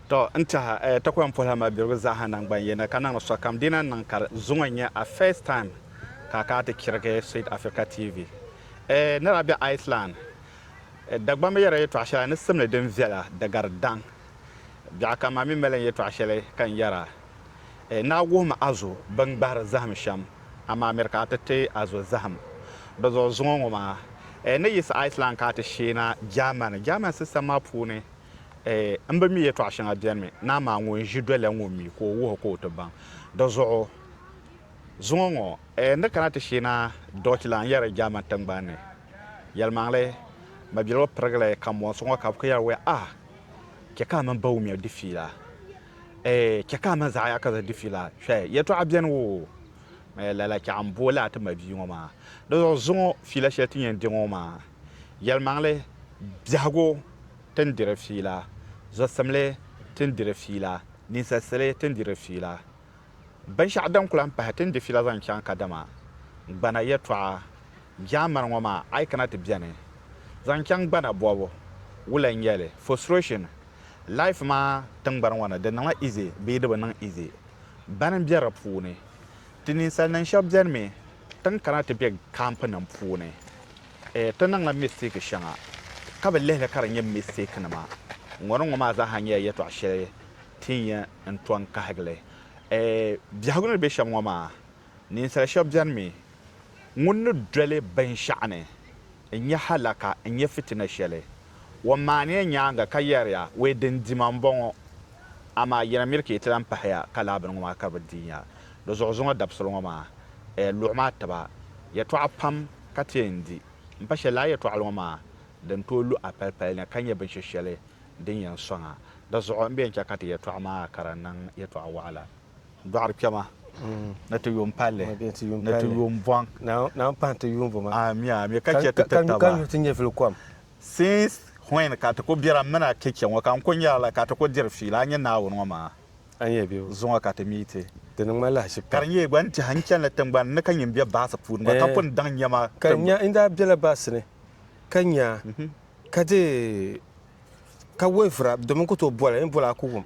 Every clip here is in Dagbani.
To n tiɛha eh, ta ku yɛn puhila mabirigu zaaha naŋgban yini ka niŋdi sokam dina niŋ ka di zuŋɔ nyɛ a first time ka a kana ti chirigi Sweet Africa TV. Eh, ni daa be Iceland, eh, Dagbamba yɛrila yɛtɔɣa shɛli ni simdi din viɛla di gari daŋ. Biɛɣu ka maa mi mali n yɛtɔɣa shɛli ka n yɛra. Naa wuhimi a zo bɛn gbahiri zahim shɛm, amaa miri ka a ti ti a zo zahim bɛ zuɣu zuŋɔ ŋɔ maa. Ni yiɣisi Iceland ka a ti sheena Germany, German sistɛm maa puuni m bi mi yɛtɔɣ shɛŋa beni mi, naa maa ŋun ʒi doliya ŋɔ mi ka o wuhi ka o ti baŋ. Di zuɣu zuŋɔ ŋɔ, n ni kana ti sheena Deutschland n-yɛri German tiŋgbani ni. Yɛlimaŋli, mabiligu pirigili kamonsi ŋɔ ka bɛ ku yɛri wɛ, Ah! Chɛ ka a mini Bawumia di fiila. Ɛɛ, chɛ ka a ma zaɣ ya ka zaŋ di fila. Hwɛ! Yɛtɔɣa beni woo, Ɛɛ, lala chɛ a ni booi laa ti ma bia ŋɔ maa. Di zuɣu zuŋɔ fila shɛli ti yɛn di ŋɔ maa, yɛlimaŋli biɛhigu ti ni diri fila, zɔsimli ti ni diri fila, ninsalisili ti ni diri fila, binshɛɣu din ku lahi pahi ti ni di fila zaŋ chaŋ kadama gbana yɛtɔɣa. Jaamani ŋɔ maa a yi kana ti beni zaŋ chaŋ gbana bɔbu wula n nyɛli, frustration, life maa tingbani ŋɔ ni di niŋla easy bee di bi niŋ easy bani n be di puuni ti ninsali nim shɛb beni mi tin kana ti be camp nim puuni eh ti niŋla mistake shɛŋa ka bi lihili ka di nyɛ mistake nima ŋɔ ni ŋɔ maa zaa ha nyɛla yɛtɔɣa shɛli tin yɛn n to n kahigili eh biɛhigu ni be shɛm ŋɔ maa Ninsal shɛb beni mi ŋun ni doli binshɛɣu ni n-nyɛ halaka, n-nyɛ fitina shɛli. O maaniya nyaaŋa ka yɛriya, Wee din di ma m-bɔŋɔ, amaa yi na miri ka yi ti lan pahiya ka laa bini ŋɔ maa ka bi diinya. Di zuɣu zuŋɔ dabisili ŋɔ maa, a luɣi ma tiba yɛtɔɣa pam ka ti yɛn di. M pa shɛli lala yɛtɔɣili ŋɔ maa din tooi lu a palipali ni ka nyɛ binshɛ shɛli din yɛn sɔŋ a. Di zuɣu m bi yɛn chɛ ka ti yɛtɔɣa maa kara niŋ yɛtɔɣ waɣila. dɔɣiri kpɛma ni ti yuun palli ni ti yuun bɔŋ naan pahi ti yuunvoma ami ami ka chɛ ti ti taba ka nyuhi ti nyɛvili kom since when ka ti ku bira m mini a kpe kpɛ ŋɔ ka n ku nyara la ka ti ku diri fiila a nyɛ Naawuni ŋɔ maa zuŋɔ ka ti mi ti di niŋ ma lahichi pam ka di nyɛla gba n tɛha n chanila tiŋgbani ni ka nyin be baasi puuni gba ka pun daŋ nyɛma ka n nya n daa bela baasi ni ka nya ka di ka wavira domi n ku tooi boli n boli a ku wum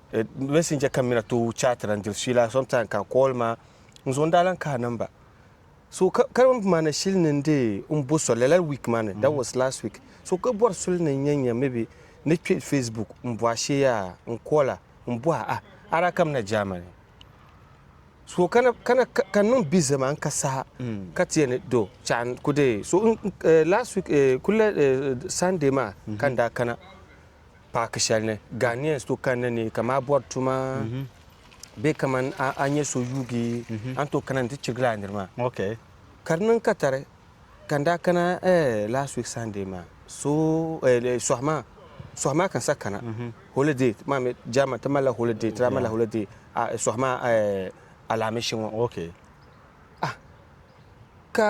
Eh, messenger ka mina to chat la ndil suila sometime ka call ma nzo nda lan kaha number so ka ka mana shili ni nde mbo so lala week mani that was last week so ka bori suli ni nya nya maybe ni kpe facebook mbo ashe yaa n call a mbo a ah ara ka mina Germany so kana kana ka niŋ busy ma n ka saha ka tiya ni do chan ku de so eh, last week eh, kula eh, sunday ma ka nda kana paaki shɛli ni Ghanaians to kanna ni ka maa bɔri tuma bee kaman a nya so yuugi a ni tooi kana ni ti chirigila a niri maa. Ka di niŋ katari ka n daa kana last week Sunday maa so sɔhi maa sɔhi maa ka n sa kana holiday ti maa mi German ti malila holiday ti daa malila holiday sɔhi maa alaamishi ŋɔ ah ka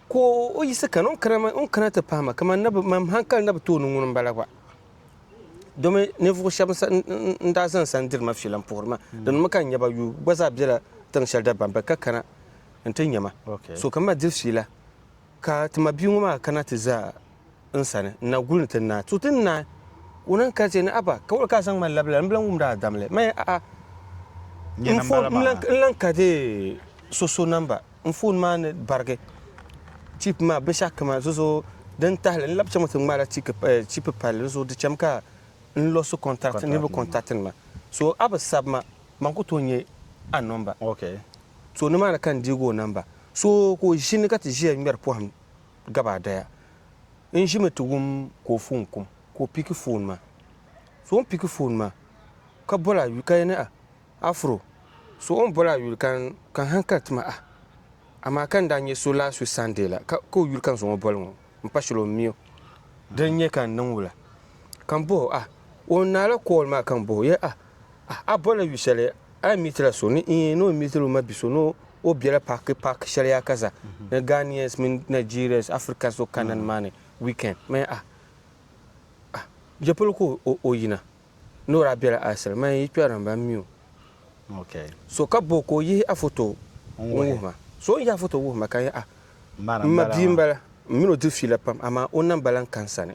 Ka o yiɣisi kani, o ni kana maa, o ni kana ti pahi ma, kaman nabi, mam haŋkali nabi tooni ŋuni m-bala gba. Domi ninvuɣu shɛba n daa zani sa n-diri ma fiila m-puhiri ma, dinimi ka n nya ba yuui gba zaa bela tiŋ shɛli Dabambe ka kana nti nya ma. So ka m ma diri fiila, ka ti mabia ŋɔ maa kana ti za n sani n-na guli ni ti naai tu ti naai. O ni kali ti ni, Abba, ka wali ka a zaŋ ma labi lala? M bi lan wumd a dam li. Maya, a'a, n foon, m lan ka di so so namba. N foon maa ni barigi. Chip maa binshɛɣu kam a zozo din tahi li. N labi chaŋmi ti ŋmaai la chip palli di zuɣu. Di cham ka n losi contact niriba contact nima. So a bi sabi ma, man ku tooi nya a nɔmba. So nimaani ka n deegi o namba. So ka o ʒini ka ti ʒiya ŋmɛri pɔhim. gabaadaya n ʒimi ti wum ka o foon kum ka o piki foon maa. So o ni piki foon maa ka bol a yuli ka yɛn ni ah, Afro, so o ni bol a yuli ka n hankali ti ma ah, amaa ka n daa nyɛ so last week Sunday la ka o yuli ka n zaŋ o bol ŋɔ m pa shili o mi o. Di n-nyɛ ka n niŋ wula? Ka m boh o ah, o ni naai la call maa ka m boh o yɛli ah, A, a bɔla yu shɛli a yi mi ti la so ni? Iin, ni o mi ti la o ma bi so ni o bela paaki paaki shɛli yaa ka za ni Ghanaians mini Nigerians, Africans o kana ni maa ni weekend. Maya, a, a je polo ka o, o yina? Ni o daa bela Arsene, maya yi kpɛri ni ba mi o. Ok. So ka bo ka o yihi a foto n-wuhi ma? So o ni yihi a foto wuhi ma ka n yɛli a, M ma bia m-bala, m mini o diri fiila pam amaa o namba lan ka n sani.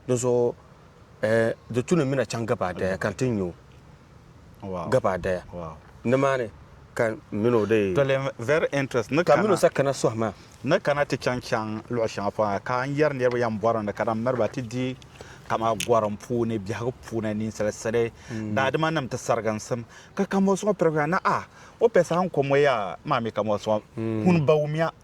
Dinzuɣu di tu ni mi na chaŋ gabaadaya ka n ti nyu gabaadaya nimaani ka n mini o dee sakana sohi maa. Ni kana ti chaŋ chaŋ luɣ shɛŋa pɔŋ ha ka n yɛri niriba yɛn bɔri ni di kana m-miri ba ti di kaman gɔrim puuni biɛhigu puuni ninsal sili daadimanim ti sariginsim. Ka kamoos ŋɔ pirigina ni, Aa! O pɛ saha n-ko moya maa mi kamoos ŋɔ! Kuni ba wumiya.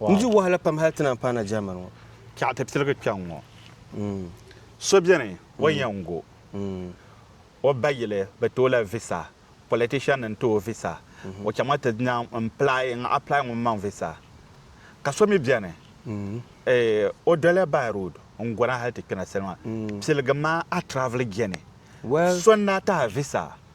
N di wahala pam hali ti naan paana German ŋɔ. Chɛɣu ti tiligi kpɛŋ ŋɔ. So beni o yɛn go o ba yili bɛ ti o la visa, politician n ti o visa, o chaŋmi ti naan n-plai, n apply ŋun maŋ visa. Ka so mi beni o doli by road n go na hali ti kpina salima. Piligi maa a travel geni. So n-daa tahi visa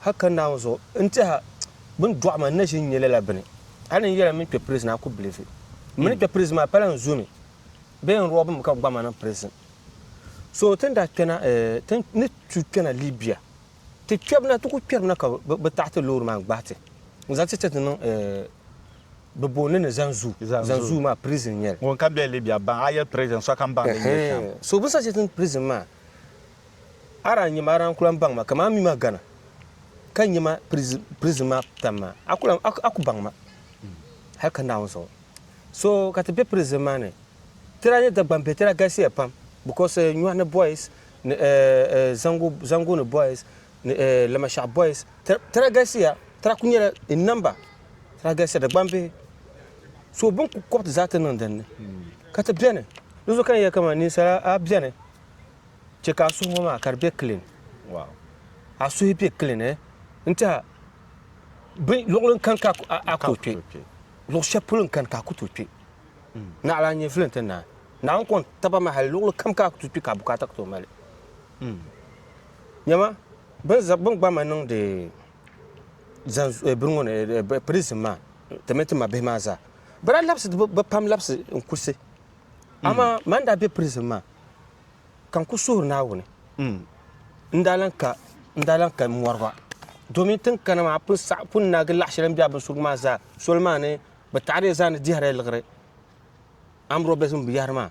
Hal ka Naawuni zuɣu n tɛha bɛ ni dɔɣi ma n na ʒi n-nyɛ lala bini. Hal ni n yɛla m mini kpe pirizin a ku bilifi. M mini kpe pirizin maa pala n zo mi bee n rɔbi mi ka bɛ gbaŋ ma niŋ pirizin. So ti ni daa kpɛna ti ni tuui kpɛna Libia ti kpɛbu na ti ku kpɛri mi na ka bɛ taɣi ti loori maa n-gbahi ti n-zaŋ ti chati niŋ bɛ booni ni Zanzuu. Zanzuu maa pirizin n-nyɛ li. Ŋun ka be Libia baŋ a yɛli pirizin sokam baŋ din nyɛ shɛm. So bɛ ni saɣi chati ni pirizin maa A daa nyɛma, a daa n-kul-an baŋ ma, kaman a mi ma gana ka nya ma prizin maa putam maa, a kul-an, a ku baŋ ma hal ka Naawuni zuɣu. So ka ti be prizin maa ni, ti daa nyɛ Dagbamb bihi, ti daa galisiya pam bikos nyɔhi ni boys, ni Zango ni boys, ni Lamashɛɣu boys, ti daa galisiya, ti daa kul nyɛla in number, ti daa galisiya Dagbamb bihi. So bɛ ni kul kɔbi ti zaa ti niŋ din ni, ka ti beni. Di zuɣu ka n yɛli kaman ninsala a beni. chɛ ka a suhu ŋɔ maa ka di be kilin. Wow. A suhi be kilin, eh? N tɛha, bin, luɣili n-kani ka a ku tooi kpe. Luɣ shɛli polo n-kani ka a ku tooi kpe. Naɣila n-nyɛ vili nti naai. Naawuni kɔŋ taba ma hali luɣili kam ka a ku tooi kpe ka a bukaata ku tooi mali. Nyama, bini gba ma niŋdi bini ŋɔ ni, prison maa, ti mini ti mabihi maa zaa, bɛ daa labisi, bɛ pam labisi n-kurisi. Amaa man n daa be prison maa ka n ku suhiri Naawuni, n daa lan ka n daa lan ka mɔri ba, domin tin kana maa pun saɣi pun naagi laɣ shɛli n be a binsurigu maa zaa soli maa ni bɛ taɣiri zaa ni dihiri liɣiri armed robbers ŋun bi yahiri maa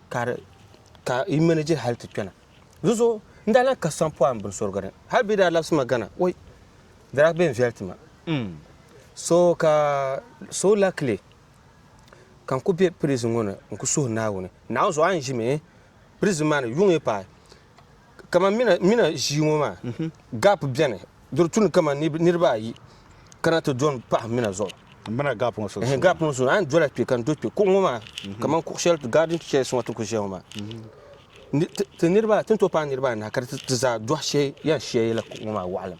ka di ka yi manage hali ti kpɛna. Dinzuɣu n daa lan ka sampɔɣu m binsurigu ni hali bɛ yi daa labisi ma Ghana oi di daa bɛn viɛli ti ma so ka so luckily ka n ku be prizin ŋɔ ni n ku suhi Naawuni. Naawuni zuɣu a ni ʒi mi prizin maa ni yuŋ yi paai. Kaman mina ʒii ŋɔ maa, gap beni, di di tu ni kaman niriba ayi kana ti do m-pahi mina zuɣu. Mina gap ŋɔ sunsuuni? Gap ŋɔ sunsuuni. A ni dola kpe ka n do kpe. Kuɣu ŋɔ maa, kaman kuɣu shɛli garden chairs ŋɔ ti ku ʒia ŋɔ maa, ti ni tooi paai niriba anahi ka di ti zaa dɔhi shee yɛn shia yɛla kuɣu ŋɔ maa waɣilim.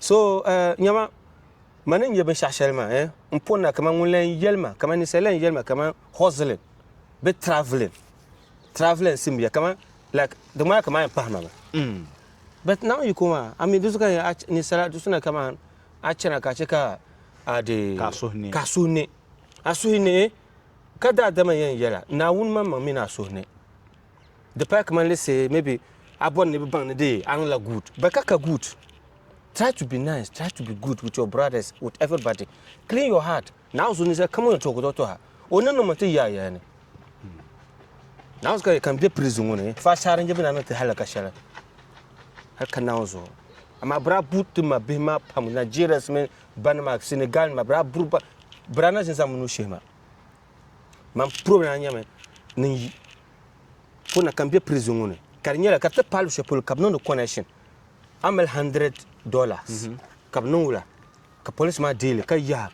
So, eh, nyama, ma ni nya binshɛɣu shɛli maa, eh, n po na kaman ŋun lan yɛli ma, kaman ninsal lan yɛli ma kaman hustling bee travelling, travelling simbiya kaman, like, di ŋmanila kaman a yɛn pahima mi. Mm. But Naawuni yiko maa, a mi di zuɣu ka nya a ninsala di suna kaman a chana ka a chɛ ka a di Ka a suhi ne. ka a suhi ne. A suhi ne, eh, ka daadama yɛn yɛla, Naawuni maŋmaŋ mi ni a suhi ne. Di paya kaman let's say maybe a bɔri ni bi baŋ ni di aŋ la good but ka ka good. Try to be nice, try to be good with your brothers, with everybody. Clean your heart. Naawuni so ninsali kam o ni tuhigu tɔha o ni niŋmi ti yaaya ni. Naawuni ka ka n be prison ŋɔ ni fa saara n-je bɛ na ni ti halaka shɛli hali ka naawuni zuɣu. Amaa bira bu ti ma bihi maa pam Nigerians mini banima Senegal nima bira buri ba bira na ʒin zaŋmi ni o shihi ma. man purobi na nyɛmi ni yi ko na ka n bɛ prison ŋɔ ni ka di nyɛla ka ti paali shɛli polo ka bi niŋdi connection a mali hundred dollars mhm. ka bi niŋ wula ka police maa deeli ka yaha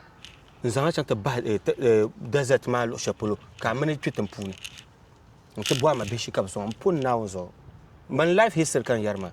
n zaŋ a chaŋ ti bahi eh, eh, desert maa luɣu shɛli polo ka a mini kpɛ tin puuni n ti bɔhi ma bihi shi ka bi sɔŋ n pun naawuni zuɣu man life history ka n yɛri maa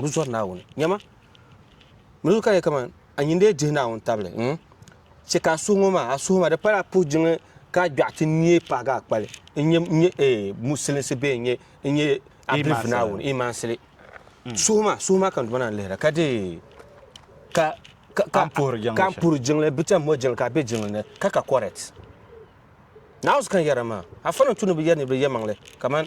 Di zɔri Naawuni. Nyama, mili ka di kaman a nyin dee dihi Naawuni tabili. Hmm? Chɛ ka a suhu ŋɔ maa, a suhu maa di pala a puhi jiŋli ka a gbɛɣu ti neei pahigi a kpali. N nyɛ, n nyɛ, eh, Musilinsi bee n nyɛ, n nyɛ a bilifu Naawuni, imansili. Suhu maa, suhu maa ka n duma na n-lihira ka dee, ka, ka, ka, ka n puhiri jiŋli, bi cham mɔri jiŋli ka a be jiŋli ni, ka ka correct. Naawuni kan yɛra maa, a fani n-tu ni bi yɛri niriba yɛlimaŋli kaman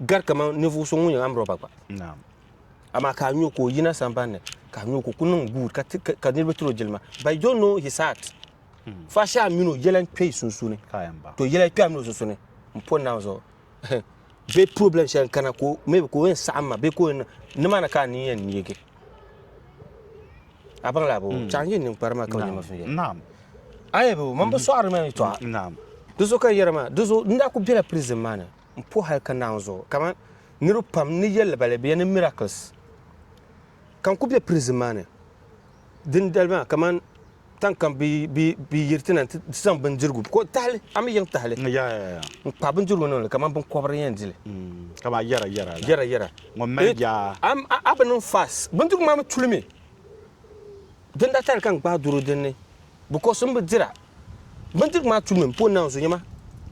gari kamani ninvuɣu so ŋun yɛn amrɔba gba amaa ka a nyo ka o yina sambanni ka a nyo ka o ku niŋ guud ka niriba tiri o jilima but you don't know his heart hmm. fa shɛhi a mini o yɛla n kpɛ sunsuuni to yɛla kpɛ a mini o sunsuuni n pɔ naawuni zuɣu bee problem shɛli n kana ka maybe ka o yɛn saɣam ma bee ka o yɛn nimaani ka a ni yɛn neegi a baŋ laabo hmm. chaŋ yɛn ninkpari maa ka o nyɛma sunyɛ ayɛbo man bi hmm. sɔɣari ma ni tɔɣa di zuɣu ka yɛra maa di zuɣu n daa ku bɛla prison maa ni n puhi hali ka naan zuɣu kaman niriba pam ni yɛli ba li bɛ ya ni miracles ka n ku be prison maa ni din dali maa kaman tan kam bi bi bi yiri ti na ti zaŋ bindirigu ko tahali a mi yiŋ tahali mm, ya ya ya n kpahi bindirigu niŋli kaman binkɔbiri yɛn dili mm, ka maa yɛra yɛra la yɛra yɛra ŋun mali bia a bi niŋ fas bindirigu maa mi tulimi din daa tali ka n gbaai doro dinni because n bi dira Bindirigu maa tu mini po naanzu nyama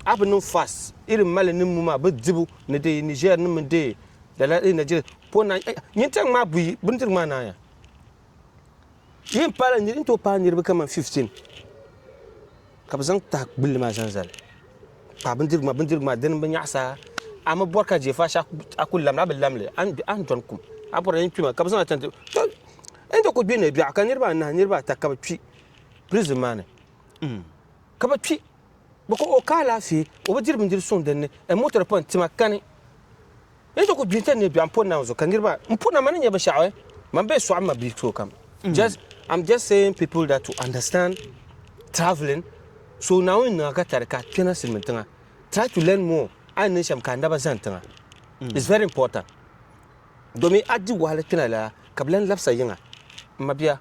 a bi niŋ fast irin mali ni muma bi dibu ni de Niger ni mini de lala e Nigeria po na eh, nyintaŋ maa buyi bindirigu maa naaya yi n paala niri n to paai niriba kaman 15 ka bi zaŋ taha gbulli maa zaŋ zali paai bindirigu maa bindirigu maa dini bi nyaɣasa a mi bɔri ka je faasha a ku lamli a bi lamli a ni dɔni kum a bɔri a yin kpima ka bi zaŋ a tanti to n to ku gbinni biɛɣu ka niriba anahi niriba ata ka bi kpi prison maa ni ka bɛ kpi bɛ ka o ka alaafee o bi diri bindiri suŋ din ni n motor pɔin tima kani n ti ku gbi n-ti nebiɛɣu m-po naawuni zuɣu ka niriba m po na ma ni nya binshɛɣu eh man bee sɔɣi m ma bil tooi kam just I'm just saying people that to understand travelling so naawuni niŋa ka tari ka kpɛna silimiin tiŋa try to learn more a ni niŋ shɛm ka a naba zani tiŋa it's very important domin a di wahala kpɛna lala ka bɛ lan labisa yiŋa m ma bia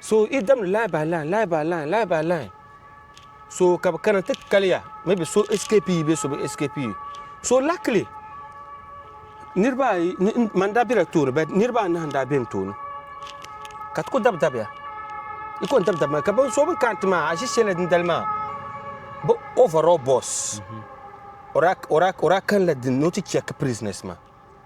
So yi damdi line by line line by line line by line so ka bi kana ti kaliya maybe so escape yi bee so bi escape yi so luckily niriba ayi man daa bela tooni but niriba anahi n daa be n tooni ka ti ku dabi dabiya i ku n dabi dabi maa ka so bin kana ti maa a ʒi shɛli din dali maa bi overall boss o daa kanla din ni o ti check prisoners maa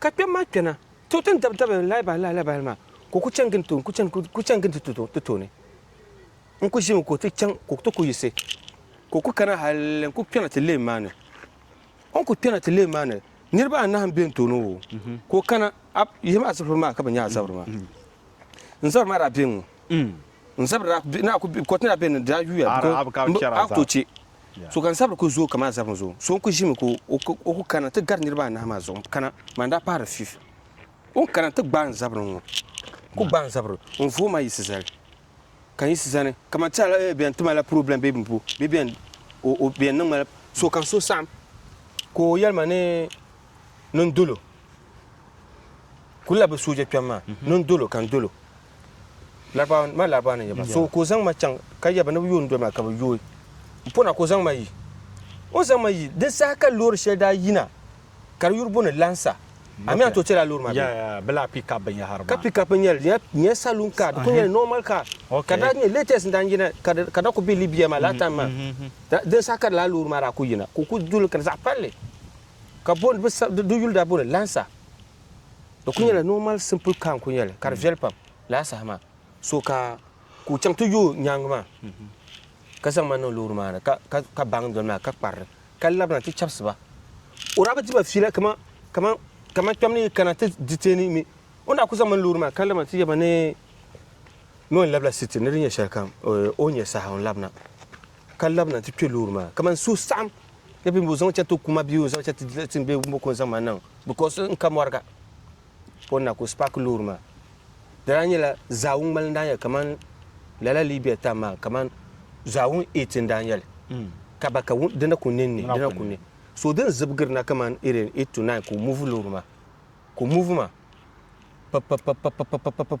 Ka kpɛm maa kpɛna, to ti ni dabi dabi n lahabali lahabali maa, ka o ku chani gindi ti tooni. N ku ʒimi ka o ti chaŋ ka o ti ku yiɣisi, ka o ku kana hal n ku kpɛna ti leem maa ni. O ni ku kpɛna ti leem maa ni, niriba anahi m-be n tooni o, ka o kana, a, yihi ma a zabiri maa ka bɛ nya a zabiri maa. N zabiri maa daa be n-ŋɔ. N zabiri daa, naa ku, kɔriti ni daa be n-ni, di daa yuuya, a ku tooi chɛ. Sokam zabiri ku zooi kaman zabim zuɣu. So n-kuli ʒimi ka o ku kana ti gari niriba anahi maa zuɣu n-kana maa n-daa pahiri fiif. O ni kana n-ti gbaai n zabiri ŋ-ŋɔ. N ku gbaai n zabiri ŋ vuhi ma yiɣisi zali ka n yiɣisi zani kaman ti ala eeh bɛn ti ma la purobilɛm bee m bo bee bɛn o o bɛn niŋ ma la sokam so saɣim ka o yɛli ma ni ni n dolo kuli la bi sooja kpɛm maa ni n dolo ka n dolo. Laribaawa ni, ma Laribaawa ni yɛba, so ka o zaŋ ma chaŋ ka yɛba ni bɛ yooi n-doli ma ka bɛ yooi m pɔna ka o zaŋ ma yi. O zaŋ ma yi, di saha ka loori shɛli daa yina ka di yuri bo ni Lansa. A mi a ni tooi chɛla loori maa bee? Yɛa, bɛ laa pick-up binyɛhiri maa. Ka pick-up n-nyɛ li, di nyɛla saloon car, di kuli nyɛla normal car. Ka di daa nyɛ latest n-daa yina ka di daa kuli be Libya maa last time maa. Di saha ka lala loori maa daa kuli yina ka o kuli doli li ka di zaɣ palli ka bo ni, di yuli daa bo ni Lansa. Di kuli nyɛla normal simple car n kuli nyɛli ka di viɛli pam laa saha maa so ka ka o chaŋ ti yo nyaangi maa ka zaŋ ma niŋ loori maa ni ka baŋ doli maa ka kparili ka labina ti chabisi ba o daa bi di ba fiila kaman kaman kaman kpɛm ni yi kana ti detain mi o ni daa kuli zaŋ ma ni loori maa ka labina ti yɛba ni ni o yɛn labila city ni di nyɛ shɛlikam o ni nyɛ saha o ni labina ka labina nti kpe loori maa kaman so saɣim ni bɛ ni bɔ zaŋ chɛri ti o kuma bee o zaŋ chɛri ti tin bee bɛ ko n-zaŋ ma niŋ because n ka mɔriga o ni na ka o spaaki loori maa di daa nyɛla zaawun ŋmali n-daa nyɛli kaman lala Libya time maa kaman zaawun eight n-daa nyɛli ka ba ka di na ku ne n-ne di na ku ne so di ni zibigiri na kaman irin eight to nine ka o muvi loori maa ka o muvi maa pipipipipipipip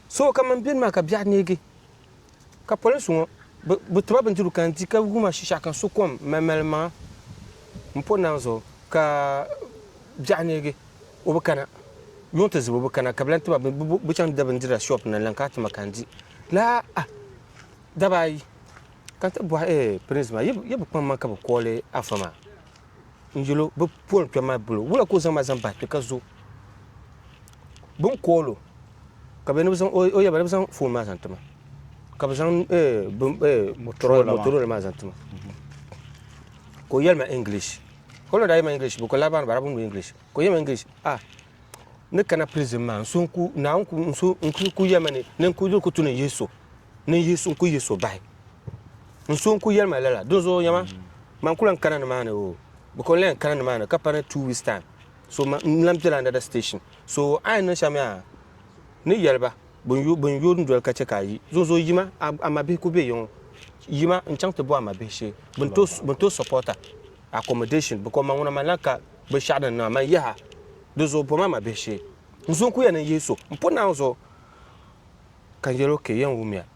So kam n beni maa ka biɛɣu neegi, ka polinsi ŋɔ bi tiba bindirigu ka n di ka wuma shishaɣu ka n su kom mali mali maŋa m po naŋ zuɣu ka biɛɣu neegi o bi kana yuŋ ti zibi o bi kana ka bi lan tiba bi chaŋ da bindira shop ni n lan kana ti ma ka n di laa ah daba ayi ka n ti bɔhi eh prince maa yi bi kpaŋ ma ka bi kooli afa maa n yɛl o bi pol kpɛm maa bol o wula ka o zaŋ ma zaŋ bahi kpɛ ka zo bi ni kool o ka bɛ ni bi zaŋ o yaba ni bi zaŋ foon maa zaŋ ti ma ka bi zaŋ motorola maa zaŋ ti ma ka o yɛli ma english ka o na daa yɛli ma english bi ko laa baani barabu ni english ka o yɛli ma english ah ni kana prison maa n so n ku naa n ku n so n ku yɛli ma ni ni n ku diri ku tu ni yihi so ni yihi so n ku yihi so bahi n so n ku yɛli ma lala dinzuɣu yɛma man kula n kana ni maa ni o bi ko n lan kana ni maa ni ka pa ni two weeks time so ma n lan bela another station so a yi niŋ shɛm yaa ni yɛli ba bin yo bin yo doli ka chɛ ka a yi zonzo yima a a ma bihi ku be yiŋɔ yima n chaŋ ti bo a ma bihi shee bin to bin to supporter accommodation because ma ŋuna man lan ka binshɛɣu din niŋa man yaha di zuɣu bom a ma bihi shee n zo n ku yɛn niŋ yihi so n pun naawuni zuɣu ka n yɛli o ke yɛn wumiya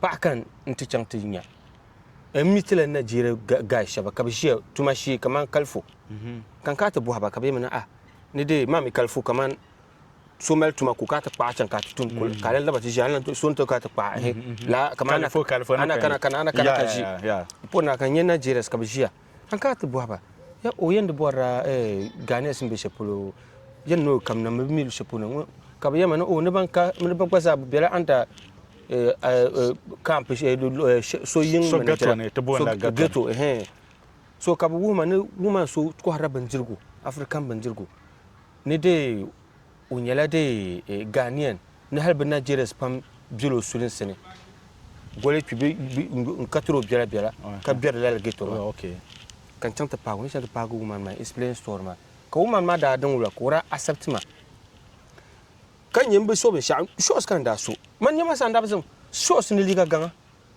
Paɣa ka n ti chaŋ ti nya. N mi ti la Najeeriya gaay shɛba ka bɛ ʒiya tuma shee kamani kalifu. Ka n kana ti bɔhi ba ka bɛ yɛli mi ni, Ah, ni dee maa mi kalifu kamani so mali tuma ka o kana ti kpaɣi chaŋ ka a ti tum kul ka a lan laba ti ʒiya. A ni lan so ni ti kana ti kpaɣi ehe laa kamani a na kana ka ʒi m po na ka n nya Najerias ka bɛ ʒiya. An kana ti bɔhi ba, ya o yɛn di bɔrila Ghanaians ni be shɛli polo yɛn ni o kamina mi bɛ mi lu shɛli polo ŋɔ ka bɛ yɛnima ni o ni ban ka ni ba gba zaa bɛ bela under camp so yiŋ So ghetto ni ti booni la ghetto ni. So ka bɛ wuhi ma ni woman so kɔhirila bindirigu African bindirigu ni dee O nyɛla de Ghanaian ni hali bɛ Nigerians pam bela o sulinsi ni goli kpibi n-katiri o biɛla biɛla ka biɛri lala ghetto maa ka n chaŋ ti paagi o ni chaŋ ti paagi woman maa explain story maa ka woman maa daa daŋ wula ka o daa accept ma ka nyɛ m bi so binshɛɣu shorts ka n daa so man nɛma sa n daa bi zaŋ shorts ni liiga gaŋa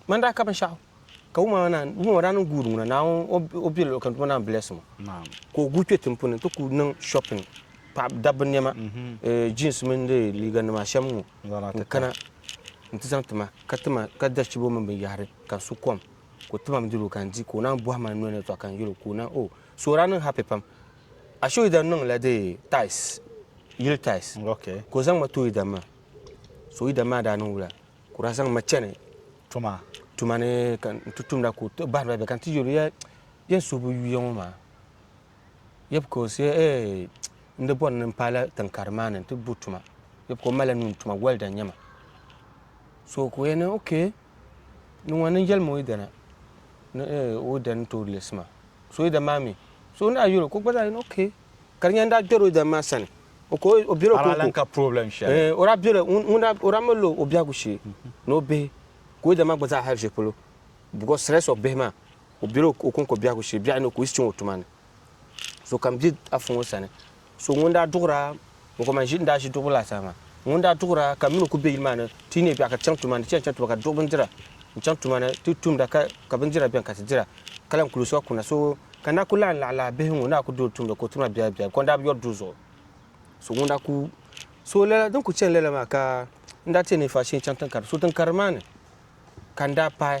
Man daa ka binshɛɣu ka wuma maa naan wuma maa daa niŋ guud ŋuna naan o bɛ luɣu kam tuma naan bless mo ka o guui kpɛ tin puni ti ku niŋ shopping paɣa dabba niɛma jeans mini de liiga nima shɛm ŋo n kana n ti zaŋ tima ka tima ka da chibo mini binyahari ka n su kom ka o timam dilo ka n di ka o naan bohi ma n noli ni tɔɣa ka n yɛlo ka o na o so o daa niŋ happy pam a so idan niŋla de tais yili tais ka o zaŋ ma too idan maa so idan maa daa niŋ wula Ka daa zaŋ ma chani tuma tuma ni ka n ti tumda ka o ti bahiriba bɛ ka n ti yɛli ya yɛn suhu bi yuya ŋɔ maa yɛbi ka o se ee n di bɔri ni n paala tinkari maa ni n ti bo tuma yɛbi ka o malila nuun tuma wɛlda n nyɛma so ka o yɛn ni ok ni ŋɔ ni yɛlimi o yidana ni ee o yidana n tooi leesi ma so yidana maa mi so ni a yɛli o ka o gba zaa yɛli ok Ka di nyɛla n daa kpɛri o yidana maa sani, o ka o bela o kɔŋko, ɛɛ, o daa bela, ŋun daa, o daa mali la o biɛhigu shee ni o bihi, ka o yidana maa gba zaa hali shɛli polo, because stress of bihi maa, o bela o kɔŋko biɛhigu shee, biɛhi ni o ka o yiɣisi chaŋ o tuma ni, so ka m be Afa ŋɔ sani, so ŋun daa duɣira N ko man ʒi n daa ʒi duɣibu laasabu maa. Ŋun daa duɣira ka mini o ku be yili maa ni ti yi neei biɛɣu ka chaŋ tuma ni ti yɛn chaŋ tuma ka ti duɣi bindira n chaŋ tuma ni ti tumda ka ka bindira beni ka ti dira ka lan kuli soŋ kuna so ka n daa ku lahi laɣi lahi bihi ŋun daa ku doli tumda ka o tima biɛhi biɛhi ka o daa bi yɔri duu zuɣu so ŋun daa ku so lala din ku chani lala maa ka n daa ti yɛn neei faa shee n chaŋ tiŋ karili so tiŋ karili maa ni ka n daa paai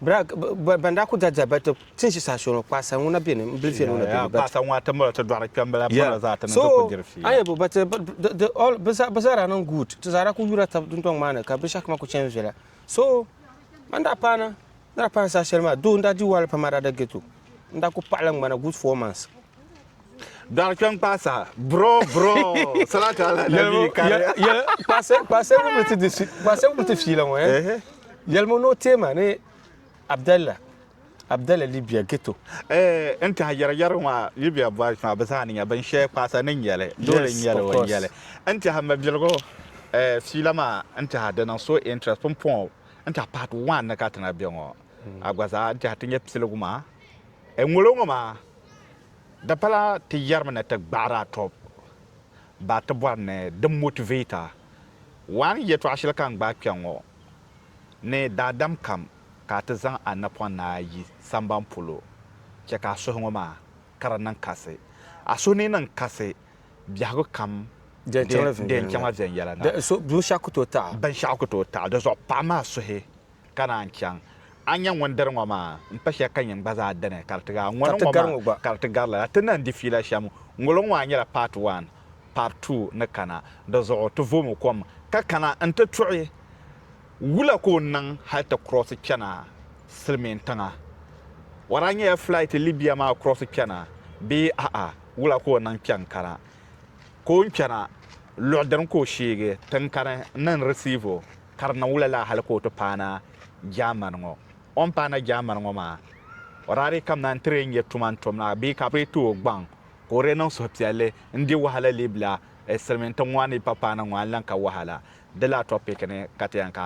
Ban daa ku da diɛhiba ti tin ʒi saha shɛli ŋɔ, kpaɣisa ŋuna bɛ ni m-bili viɛl ŋɔ na bɛ ni? Kpaɣisa ŋɔ atimba ti dɔɣiri kpɛmbala polo zaa ti niŋ ti ku diri fiila. Ayabo, but bɛ zaa daa niŋ good. Ti zaa daa kul yuura tab dundɔŋ maa ni ka binshɛɣu kam kul chani viɛla. So a ni daa paana, ni daa paana saha shɛli maa, though n daa di wahala pam a daa da ghetto, n daa kul paɣila ŋmana good four months. Dɔɣi kpɛm kpaa saha bro bro salatu ala nabi kariya. Yɛli kpaasɛ wumli ti di kpaasɛ wumli ti fiila ŋɔ ya. Yɛli mo no teema ni Abdalla Abdalla Libya ghetto. Eh n tihi yɛri yɛri ŋɔ Libya boys maa bi zaa ni nya bin shɛli kpaasa ni nyɛli dole n nyɛli o nyɛli n tihi mabiligu eh fiila maa n tihi di niŋ so interest pumpɔŋɔ n tihi part one ni ka ti na bɛ ŋɔ a gba zaa n tihi ti nyɛ piligu maa eh ŋolo ŋɔ maa. Di pala ti yɛrimi ni ti gbaɣiri a tɔbu baa ti bɔri ni di motivate a. Waan yɛtɔɣ shɛli ka n gbaai kpɛŋ ŋɔ ni daadam kam ka a ti zaŋ a napɔŋ ni a yi samban polo chɛ ka a suhi ŋɔ maa ka di niŋ kasi. A suhi ni niŋ kasi biɛhigu kam di yɛn chaŋla viɛnyɛliŋga. Binshɛɣu ku tooi taɣi. Binshɛɣu ku tooi taɣi. Di zuɣu paɣim a suhi ka naan chaŋ. A ni nya ŋun diri ŋɔ maa, m-pa shɛli ka nyin gba zaa dini ka di ti gar a. Ŋɔni ŋɔ maa ka di ti gar lala. Ti ni lahi di fiila shɛm ŋolo ŋɔ maa nyɛla part one, part two ni kana. Di zuɣu ti voomi kom ka kana n-ti tuɣi wula ka o niŋ hali ti cross chana silimiin tiŋa. Wara nyɛla flight Libya maa cross chana bee a'a wula ka o niŋ kpɛŋ kana. ka o ni kpɛna luɣ dini ka o sheegi tiŋkani ni n risiivi o, ka di niŋ wula laa hal ka o ti paana Jaamani ŋɔ? O ni paana Jaamani ŋɔ maa, o daa dii kamina nti dii nya tuma n-tom la bee ka bɛ dii ti o gbaŋ ka o dii niŋ suhupiɛlli n-di wahala Libila silimiintiŋ ŋɔ a ni yi pa paana ŋɔ a ni lan ka wahala. Di laa tɔpiki ni ka ti yɛn ka.